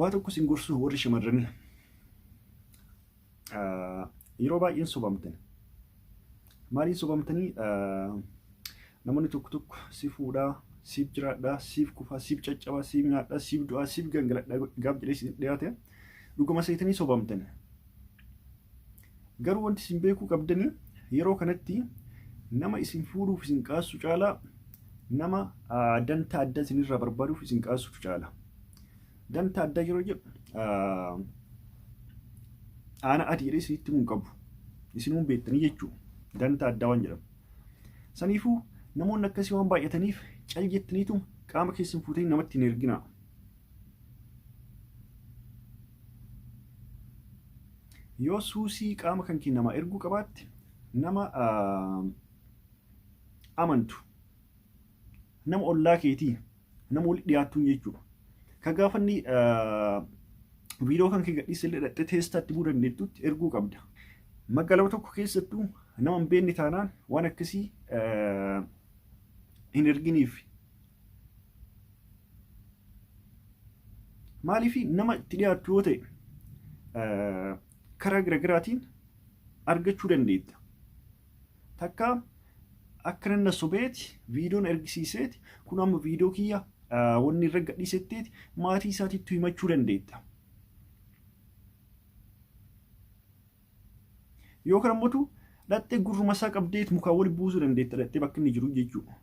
Waa tokko sin gorsuu warri shamarranii. Yeroo baay'een sobamtan. Maaliin sobamtanii namoonni tokko tokko si fuudhaa, siif jiraadhaa, siif kufaa, siif caccabaa, siif nyaadhaa, siif du'aa, siif gangaladhaa gaaf jedhee si dhiyaate dhuguma seetanii sobamtan. Garuu wanti isin beekuu qabdanii yeroo kanatti nama isin fuudhuuf isin qaassu caalaa nama danta adda isinirraa barbaaduuf isin qaassutu caala. Danta adda yeroo jedhu aana ati jedhee isinitti himuu qabu. Isinuu beektanii jechuudha. Danta addaa waan jedhamu. Saniifuu namoonni akkasii waan baay'ataniif cal jettaniitu qaama keessan fuutanii namatti hin erginaa. yoo suusii qaama kan kee namaa erguu qabaatte nama amantu nama ollaa keetii nama walitti dhiyaattuun jechuudha. Ka gaafanni viidiyoo kan kee gadhiise illee dhaqxee teestaatti buu dandeettutti erguu qabda. Magaalama tokko keessattuu nama hin beekne taanaan waan akkasii hin erginiif. Maaliif nama itti dhiyaattu yoo ta'e karaa garaagaraatiin argachuu dandeetta. Takka akka nanna sobeeti viidiyoon ergisiiseeti kun amma viidiyoo kiyya wanni irra gadhiisetteeti maatii isaatiitti himachuu dandeetta. Yoo kana mootu dhaxxee gurruma isaa qabdeet mukaa wali buusuu dandeetta dhaxxee bakka inni jiru jechuudha.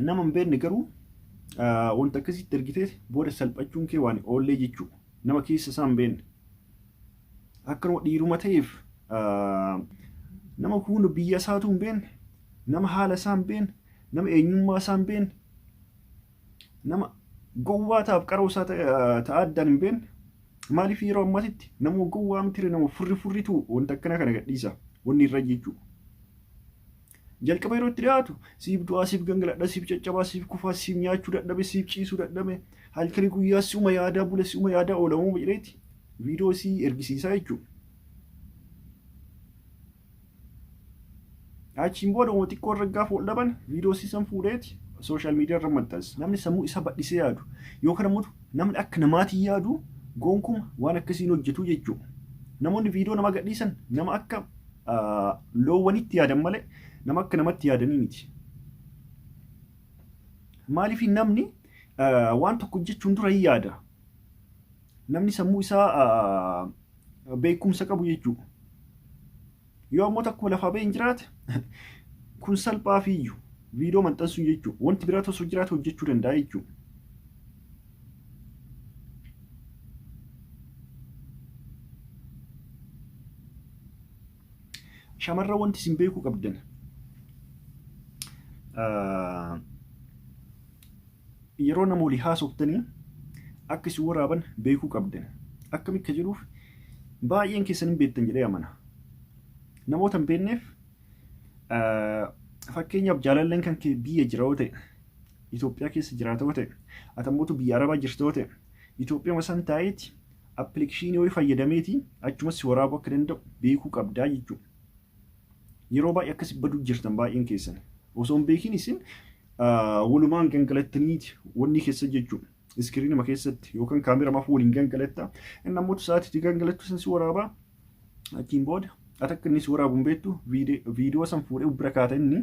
Nama hin beekne garuu wanta akkasitti ergitee booda salphachuun kee waan oollee jechuudha. Nama keessa isaa hin beekne. Akkanuma dhiiruma ta'eef nama hunda biyya isaatu hin beekne nama haala isaa hin beekne nama eenyummaa isaa hin beekne nama gowwaa ta'aaf qaroo isaa ta'a addaan hin beekne maaliif yeroo ammatitti nama gowwaa miti nama furri furritu wanta akkana kana gadhiisa wanni irra jechuu jalqaba yeroo itti dhiyaatu siif du'aa siif gangaladha siif caccabaa siif kufaa siif nyaachuu dadhabe siif ciisuu dadhabe halkanii guyyaa si'uma yaadaa bula si'uma yaadaa oolamuu jedheeti viidiyoo sii ergisiisaa jechuudha. Achiin booda uma xiqqoo irra gaafa wal dhaban viidiyoo siisan fuudheeti sooshaal miidiyaa irra maxxansa. Namni sammuu isa badhisee yaadu yookaan ammoo namni akka namaatiin yaadu goonkuma waan akkasii hin hojjetu jechuudha. Namoonni viidiyoo nama gadhiisan nama akka loowwanitti yaadan malee nama akka namatti yaadanii miti. Maaliif namni waan tokko hojjechuun dura hin yaada. Namni sammuu isaa beekumsa qabu jechuudha. Yoo ammoo takkuma lafaa ba'een jiraate kun salphaa fi iyyu viidiyoo maxxansuu jechuudha. Wanti biraa osoo jiraate hojjechuu danda'a jechuudha. Shamarran wanti isin beekuu qabdan Yeroo nama walii haasoftanii akka isin waraaban beekuu qabdan. Akkami akka jedhuuf baay'een keessan hin beektan jedhee amana. Namoota hin beekneef fakkeenyaaf jaalalleen kan kee biyya jira yoo ta'e Itoophiyaa keessa jiraata yoo ta'e atammootu biyya Arabaa jirta yoo ta'e Itoophiyaa san taa'eeti appilikeeshinii wayii fayyadameeti achumas si waraabuu akka danda'u beekuu qabdaa jechuudha. Yeroo baay'ee akkasi baduu jirtan baay'een keessan. Osoo hin beekin isin walumaan gangalattaniiti wanni keessa jechuudha. Iskiriinuma keessatti yookaan kaameera maaf waliin gangalatta. Inni ammoo sa'aatii itti gangalattu san si waraabaa achiin booda ati akka inni si waraabu hin beektu viidiyoo san fuudhee bira kaata inni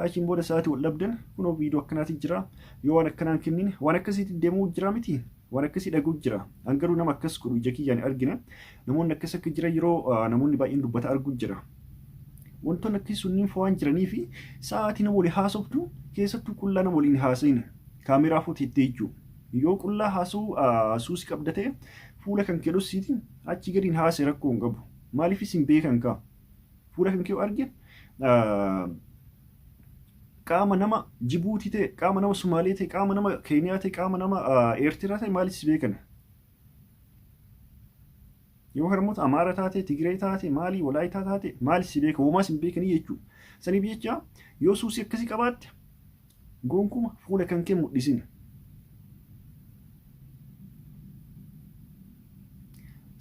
achiin booda sa'aatii wal dhabdan kunoo viidiyoo akkanaati jira yoo waan akkanaan kennine waan akkasiitti deemuu jira miti waan akkasii dhaguu jira an garuu nama akkas godhu ija kiyyaan argine Namoonni akkas akka jiran yeroo namoonni baay'een dubbata arguu jira. Wantoonni akkasii sunniin fa'aa waan jiranii fi sa'aatii nama waliin haasoftu keessattuu qullaa nama waliin haasa'in kaameeraa fuuti itti ijjuu. Yoo qullaa haasa'uu suusi qabda ta'e fuula kan kee dhossiiti achi gadiin haasa'e rakkoo hin qabu. Maaliif isin beekan kaa? Fuula kan kee yoo arge qaama nama Jibuutii ta'e, qaama nama Sumaalee ta'e, qaama nama Keeniyaa ta'e, qaama nama Eertiraa ta'e maaliif si beekana? Yoo harmoota Amaara taate, Tigree taate, maali Walaayitaa taate, maali si beeka, homaa sin beekanii jechuudha. Saniif jecha yoo suusii akkasii qabaatte gonkuma fuula kan kee mul'isin.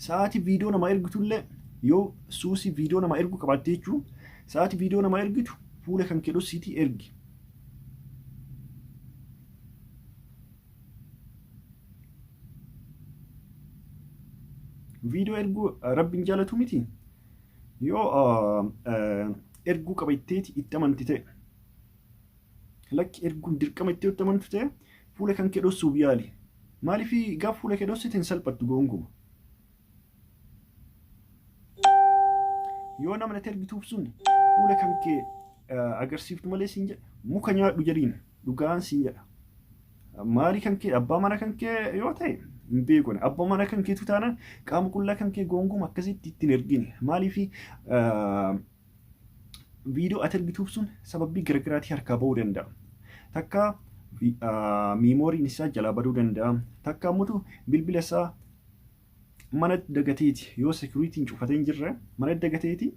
Sa'aatii viidiyoo namaa ergitullee yoo suusii viidiyoo namaa ergu qabaatte jechuun sa'aatii viidiyoo namaa ergitu fuula kan kee dhossiitii ergi. viidiyoo erguu rabbiin jaalatu miti yoo erguu qaba itteeti itti amanti ta'e lakki erguun dirqama itti itti amantu ta'e fuula kan kee dhossuuf yaali maaliif gaaf fuula kee dhossite hin salphattu goonguma yoo nama natti ergituuf sun fuula kan kee agarsiiftu malee siin jedha muka nyaadhu jedhiin dhugaan siin jedha maarii kan kee abbaa mana kan kee yoo ta'e hin beekun abbaa mana kan keetu taanaan qaama qullaa kan kee goonguma akkasitti ittiin ergine maaliif viidiyoo ati argituuf sun sababii garaagaraatii harkaa ba'uu danda'a. Takka miimooriin isaa jalaa baduu danda'a. Takka ammoo bilbila isaa mana dagateeti yoo sekuriitiin cufatee hin jirre mana dagateeti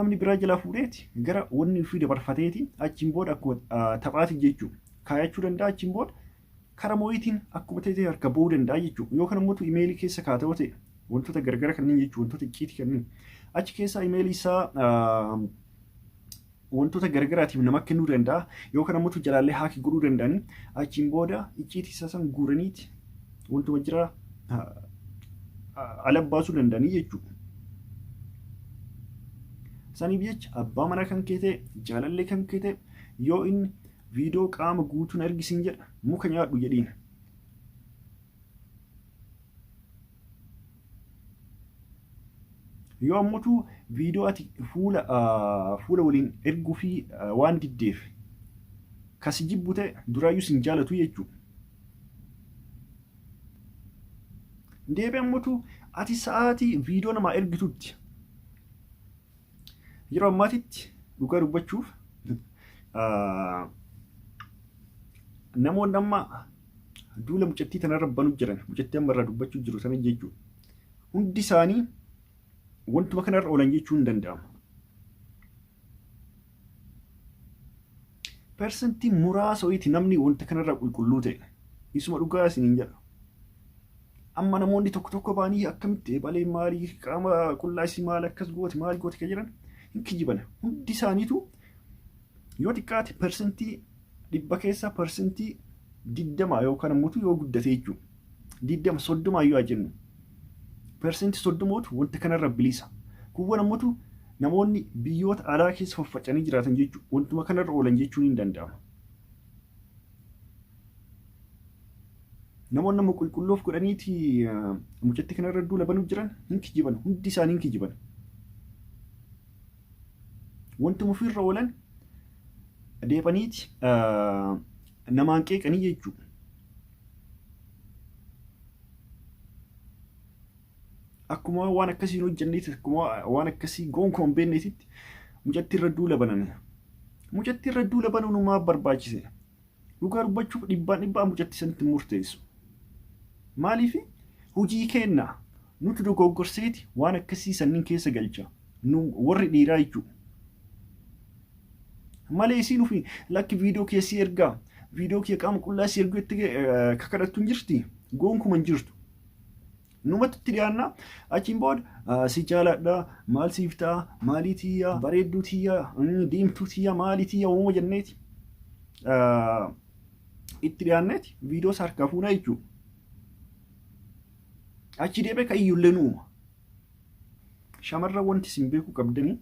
namni biraa jalaa fuudheeti gara wanni ofii dabarfateeti achiin booda akkuma taphaati jechuudha. Kaayachuu danda'a achiin booda Kara mooyitiin akkuma ta'e harka ba'uu danda'a jechuudha. Yoo kana immoo imeelii keessa kaata yoo ta'e wantoota gargara kanneen jechuun wantoota icciitii kanneen achi keessaa imeelii isaa wantoota gargaraatiif nama kennuu danda'a yoo kana immoo jalaallee haakii godhuu danda'anii achiin booda icciitii isaa san guuraniiti wantuma jira ala baasuu danda'anii jechuudha. Saniif jecha abbaa manaa kan keete jaalallee kan keete yoo inni Viidoo qaama guutuun ergi siin jedha muka nyaadhu jedhiin. Yoo ammutu viidoo ati fuula fuula waliin erguu fi waan diddeef kasi jibbu ta'e duraayyuu sin jaalatu jechuudha. Deebi ammutu ati sa'aatii viidoo namaa ergitutti Yeroo ammaatitti dhugaa dubbachuuf namoonni amma duula mucattii tanarra banu jiran mucattii amma irraa dubbachuu jiru sana jechuudha. Hundi isaanii wantuma kanarra oolan jechuu hin danda'amu. Persentii muraasa wayiiti namni wanta kanarraa qulqulluu ta'e. Isuma dhugaa isiniin jedha. Amma namoonni tokko tokko ba'anii akkamitti eebalee maali qaama qullaa isii maal akkas goote maal goote kan jedhan hin kijibana. Hundi isaaniitu yoo xiqqaate parsantii dhibba keessaa parsantii digdama yookaan ammoo yoo guddate jechuudha. Digdama soddoma yoo jennu parsantii soddomootu wanta kanarra bilisa. Kuuwwan ammoo namoonni biyyoota alaa keessa faffacanii jiraatan jechuudha. Wantuma kanarra oolan jechuun hin danda'ama. Namoonni amma qulqulluuf godhaniiti mucatti kana irra duula banuu jiran hin kijiban hundi isaanii hin kijiban. Wanti mufiirra oolan deebaniiti namaan qeeqanii jechuudha. Akkuma waan akkasii hin hojjenneetti akkuma waan akkasii gonkumaa hin beekneetitti mucatti irra duula baname. Mucatti irra duula banuun maaf barbaachise? Dhugaa dubbachuuf dhibbaan dhibbaa mucatti sanitti murteessu. Maaliif hojii keenna nuti dogoggorseeti waan akkasii sanniin keessa galcha. Nu warri dhiiraa jechuudha. Malee isiin ofii lakki viidiyoo keessi ergaa viidiyoo kee qaama qullaa si ergu jettee kakadhattu hin jirti. Goonkuma hin jirtu. Numatti itti dhiyaanna achiin booda ah, si jaaladha maal siif ta'a maalii tiyya bareedduu tiyya mm, diimtuu tiyya maalii tiyya uuma jenneeti ah, itti dhiyaanneeti viidiyoo isaa harkaa fuunaa jechuudha. Achi deebee kan iyyullee nu uuma. Shamarran wanti isin beekuu qabdanii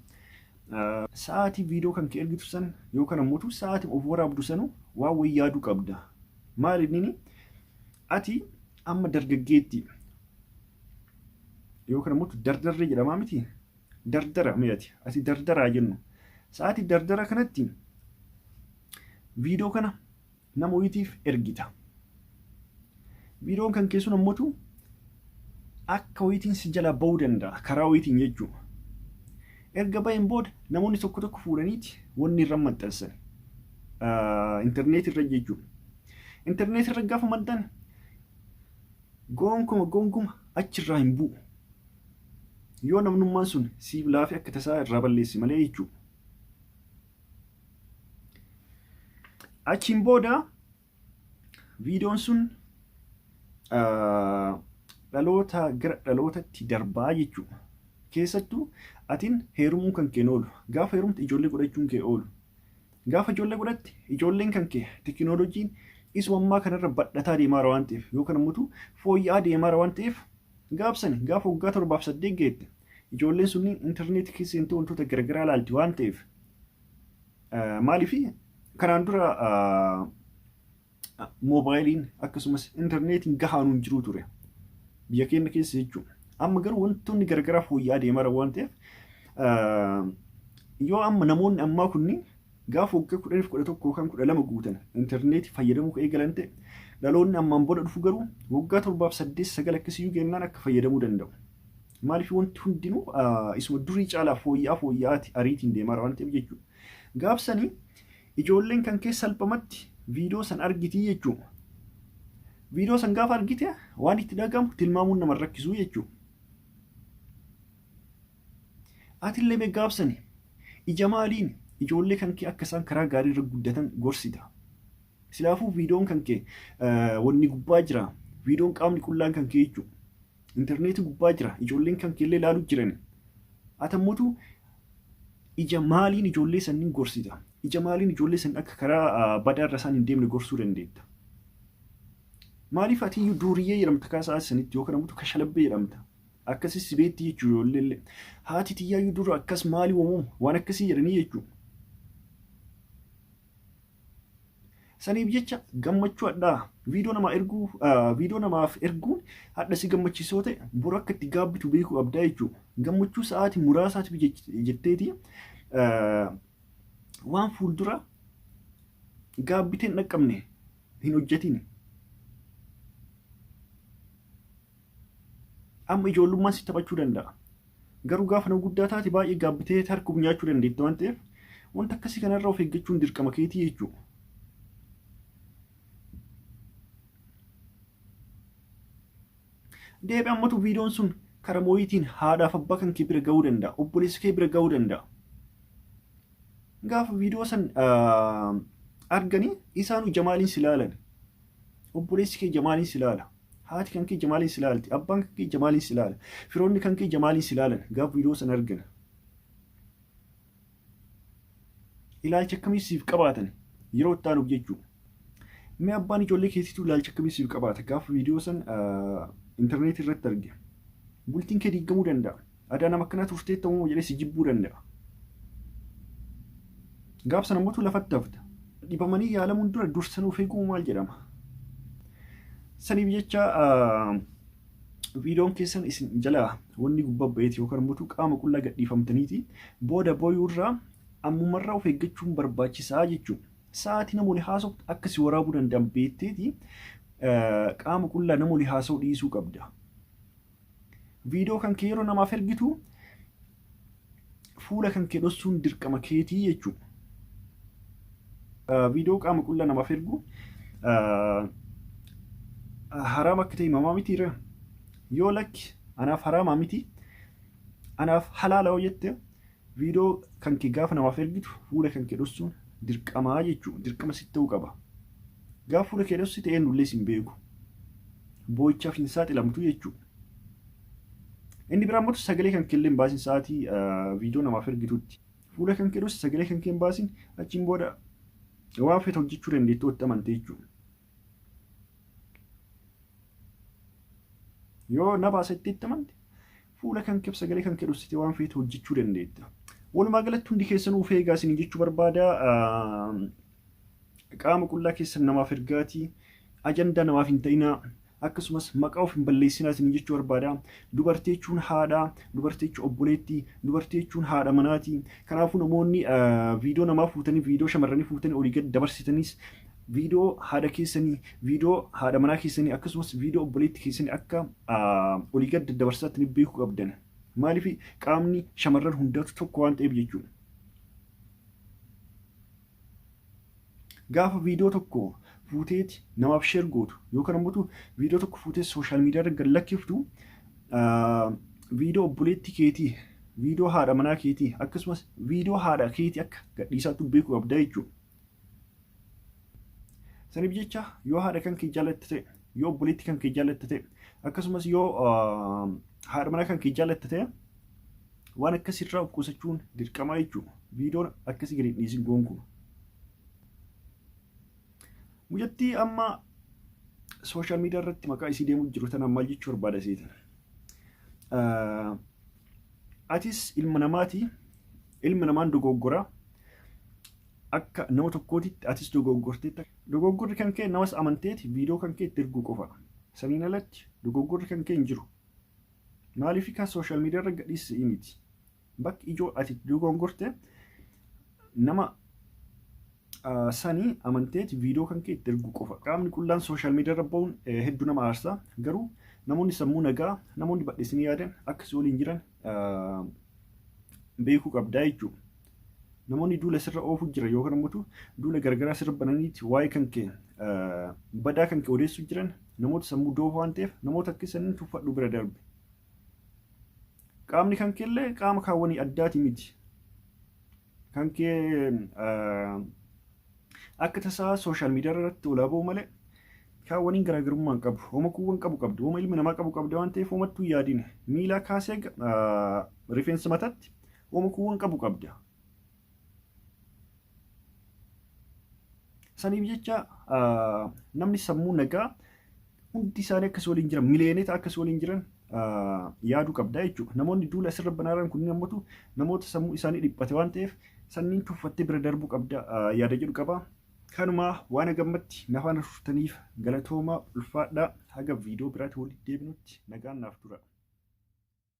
ah, sa'aatii viidiyoo kan kee ergitu san yookaan ammoo tu sa'aatii of waraabdu sanu waan wayii yaaduu qabda. Maal inni ati Amma dargaggeetti yookaan ammoo dardarree jedhamaa miti dardara mi'ati ati dardaraa jennu sa'aatii dardara kanatti viidiyoo kana nama ho'iitiif ergita. Viidiyoon kan keessuun ammoo akka ho'iitiin si jalaa ba'uu danda'a karaa ho'iitiin jechuudha. Erga ba'een booda namoonni tokko tokko fuudhaniiti wanni irra maxxansan intarneetii irra jechuudha. Intarneetii irra gaafa maddan goonkuma goonkuma achirraa hin bu'u. Yoo namnummaan sun siif laafee akka tasaa irraa balleessi malee jechuudha. Achiin booda viidiyoon sun dhaloota gara dhalootatti darbaa jechuudha. Keessattuu atiin heerumuun kan keen oolu gaafa heerumtu ijoollee godhachuun kee oolu Gaafa ijoollee godhatte ijoolleen kan kee teekinooloojiin isuma ammaa kanarra badhataa deemaara waan ta'eef yookaan ammoo fooyya'aa deemaara waan ta'eef gaabsani gaafa waggaa torbaaf saddeet geette ijoolleen sunniin intarneetii keessa seentee wantoota garaagaraa ilaalti waan ta'eef maaliif kanaan dura moobaayiliin akkasumas intarneetiin gahaan hin jiru ture biyya keenya keessa jechuudha. Amma garuu wantoonni garagaraa fooyya'aa deemaa waan ta'eef yoo amma namoonni ammaa kunniin gaafa waggaa kudha lama kudha tokko yookaan kudha lama guutan intarneetii fayyadamuu kan eegalan ta'e dhaloonni ammaan booda dhufu garuu waggaa torbaaf saddeet sagal akkasiyyuu gennaan akka fayyadamuu danda'u. Maaliif wanti hundinuu isuma durii caalaa fooyya'aa fooyya'aati ariitiin deemaa waan ta'eef jechuudha. Gaafsanii Ijoolleen kan kee salphamatti viidiyoo san argiti jechuudha. Viidiyoo san gaafa argite waan itti dhagahamu tilmaamuun nama rakkisuu jechuudha. Atillee mee gaafsani ija maaliin ijoollee kan kee akka isaan karaa gaarii irra guddatan gorsita. Silaafuu viidiyoon kan kee wanni gubbaa jira. Viidiyoon qaamni qullaan kan kee jechuudha. Intarneetii gubbaa jira. Ijoolleen kan keellee ilaaluu jiran. Atammotu ija maaliin ijoollee sanniin gorsita? Ija maaliin ijoollee san akka karaa badaa irra isaan hin deemne gorsuu dandeetta? Maaliif ati iyyuu duuriyyee jedhamta kaasaa sanitti yookaan ammoo kashalabbee jedhamta? Akkasii si beetti jechuudha ijoollee illee. Haati tiyyaa iyyuu dura akkas maali waamama? Waan akkasii jedhanii jechuudha. Saniif jecha gammachuu hadhaa viidiyoo namaa erguu viidiyoo namaaf erguun hadha si gammachiisoo ta'e bor akka itti gaabbitu beekuu qabdaa jechuudha. Gammachuu sa'aatii muraasaatiif jetteeti waan fuuldura gaabbiteen dhaqqabne hin hojjetiin. Amma ijoollummaan si taphachuu danda'a. Garuu gaafa nama guddaa taate baay'ee gaabbitee tarkuuf nyaachuu dandeetti waan ta'eef wanta akkasii kanarraa of eeggachuun dirqama keetii jechuudha. Deebi ammatu viidiyoon sun karaa mooyitiin haadhaaf abbaa kan kee bira ga'uu danda'a. Obboleessa kee bira ga'uu danda'a. Gaafa viidiyoo san arganii isaanuu jamaaliin si laalan. Obboleessi kee jamaaliin si laala. Haati kan kee jamaaliin si laalti. Abbaan kan kee jamaaliin si laala. Firoonni kan kee jamaaliin si laalan. Gaaf viidiyoo san argina. Ilaalcha akkamii siif qabaatan yeroo itti aanuuf jechuudha. Mee abbaan ijoollee keetiitu ilaalcha akkamii siif qabaata? Gaaf viidiyoo san intarneetii irratti arge. Bultiin kee diigamuu danda'a. Adaa nama akkanaa turtee ta'uu jedhee si jibbuu danda'a. Gaaf sana mootu lafatti hafta. Dhibamanii yaalamuun dura dursan of eeguu maal jedhama? Saniif jecha viidiyoon keessan isin jalaa wanni gubbaa ba'eeti yookaan immoo qaama qullaa gadhiifamtaniiti booda booyuu irraa ammumarraa of eeggachuun barbaachisaa jechuudha. Sa'aatii namoonni haasoftu akka si waraabuu danda'an beekteeti qaama qullaa namoonni haasa'u dhiisuu qabda. Viidiyoo kan kee yeroo namaaf ergitu fuula kan kee dhossuun dirqama keetii jechuudha. Viidiyoo qaama qullaa namaaf ergu haraam akka ta'e himamaa miti irra yoo lakki anaaf haraamaa miti anaaf halaala yoo jette Viidoo kanke gaafa namaaf ergitu fuula kanke dhossuun dirqamaa jechuu dirqama sitti ta'uu qaba. Gaafa fuula kee dhossite eenyullee sin beeku. Boo'ichaaf hin saaxilamtu jechuu. Inni biraa immoo sagalee kanke illee hin baasin sa'aatii viidoo namaaf ergitutti. Fuula kanke dhossi sagalee kanke hin baasin achiin booda waan feete hojjechuu dandeettu otti amante jechuudha. yoo nama asitti itti amante fuula kan kibsa galee kan kedhussite waan feetu hojjechuu dandeetta. Walumaa galatti hundi keessanuu of eegaa isin jechuu barbaada. Qaama qullaa keessan namaaf ergaatii ajandaa namaaf hin ta'inaa. akkasumas maqaa of hin balleessinaa isin jechuu barbaada. Dubartii jechuun haadha, dubartii jechuun obboleetti, dubartii jechuun haadha manaati. Kanaafuu namoonni viidiyoo namaa fuutanii, viidiyoo shamarranii fuutanii olii gad dabarsitanis viidiyoo haadha keessanii, viidiyoo haadha manaa keessanii akkasumas viidiyoo obboleetti keessanii akka olii gad daddabarsaatti ni beekuu qabdan. Maaliif qaamni shamarran hundaatu tokko waan ta'eef jechuudha. Gaafa viidiyoo tokko fuuteeti namaaf sheer gootu yookaan ammoo viidiyoo tokko fuutee sooshaal miidiyaa irra gad lakkiftu viidiyoo obboleetti keetii, viidiyoo haadha manaa keetii akkasumas viidiyoo haadha keetii akka gadhiisaatti beekuu qabda jechuudha. Saniif jecha yoo haadha kan kee jaalatte ta'e, yoo obboleetti kan kee jaalatte ta'e, akkasumas yoo haadha manaa kan kee jaalatte ta'e waan akkasirraa of qusachuun dirqamaa jechuudha. Viidiyoon akkasii gadi dhiisin goonkuun. Mucattii amma sooshaal miidiyaa irratti maqaa isii deemuu jiru tana maal jechuu barbaada seetan. Atis ilma namaati Ilmi namaan dogoggora. Akka nama tokkootitti atis dogoggorteetta. Dogoggorri kan kee namas amanteeti viidiyoo kan kee itti erguu qofa. Saniin alatti dogoggorri kan kee hin jiru. Maaliif kan sooshaal miidiyaa irra gadhiisisii miti. Bakki ijoo ati dogoggorte nama sanii amanteeti viidiyoo kan kee itti erguu qofa. Qaamni qullaan sooshaal miidiyaa irra ba'uun hedduu nama aarsa. Garuu namoonni sammuu nagaa, namoonni badheessanii yaadan akkasii waliin jiran beekuu qabdaa jechuudha. Namoonni duula sirra oofuu jiran yookaan immoo duula gargaraa sirra bananiiti waa'ee kan kee badaa kan kee odeessuu jiran namoota sammuu doofa waan ta'eef namoota akka isaanii tuffadhu bira darbe. Qaamni kan kee illee qaama kaawwanii addaati miti. Kan kee Akka tasaa sooshaal miidiyaa irratti olaa ba'u malee kaa waniin garaagarummaa hin qabu. Homa kuuwwan qabu qabdu. Homa ilmi namaa qabu qabda waan ta'eef homattuu hin yaadin. Miilaa kaasee rifeensa mataatti homa kuuwwan qabu qabda. Saniif jecha namni sammuu nagaa hundi isaanii akka si waliin jiran miliyoonota akka si waliin jiran yaaduu qabda jechuudha. Namoonni duula asirra banaaran kunniin ammatu namoota sammuu isaanii dhiphate waan ta'eef sanniin tuffattee bira darbuu qabda yaada jedhu qaba. Kanumaa waan hagammatti nafaan turtaniif galatoomaa ulfaadhaa haga viidiyoo biraatti walitti deebinutti nagaan naaf tura.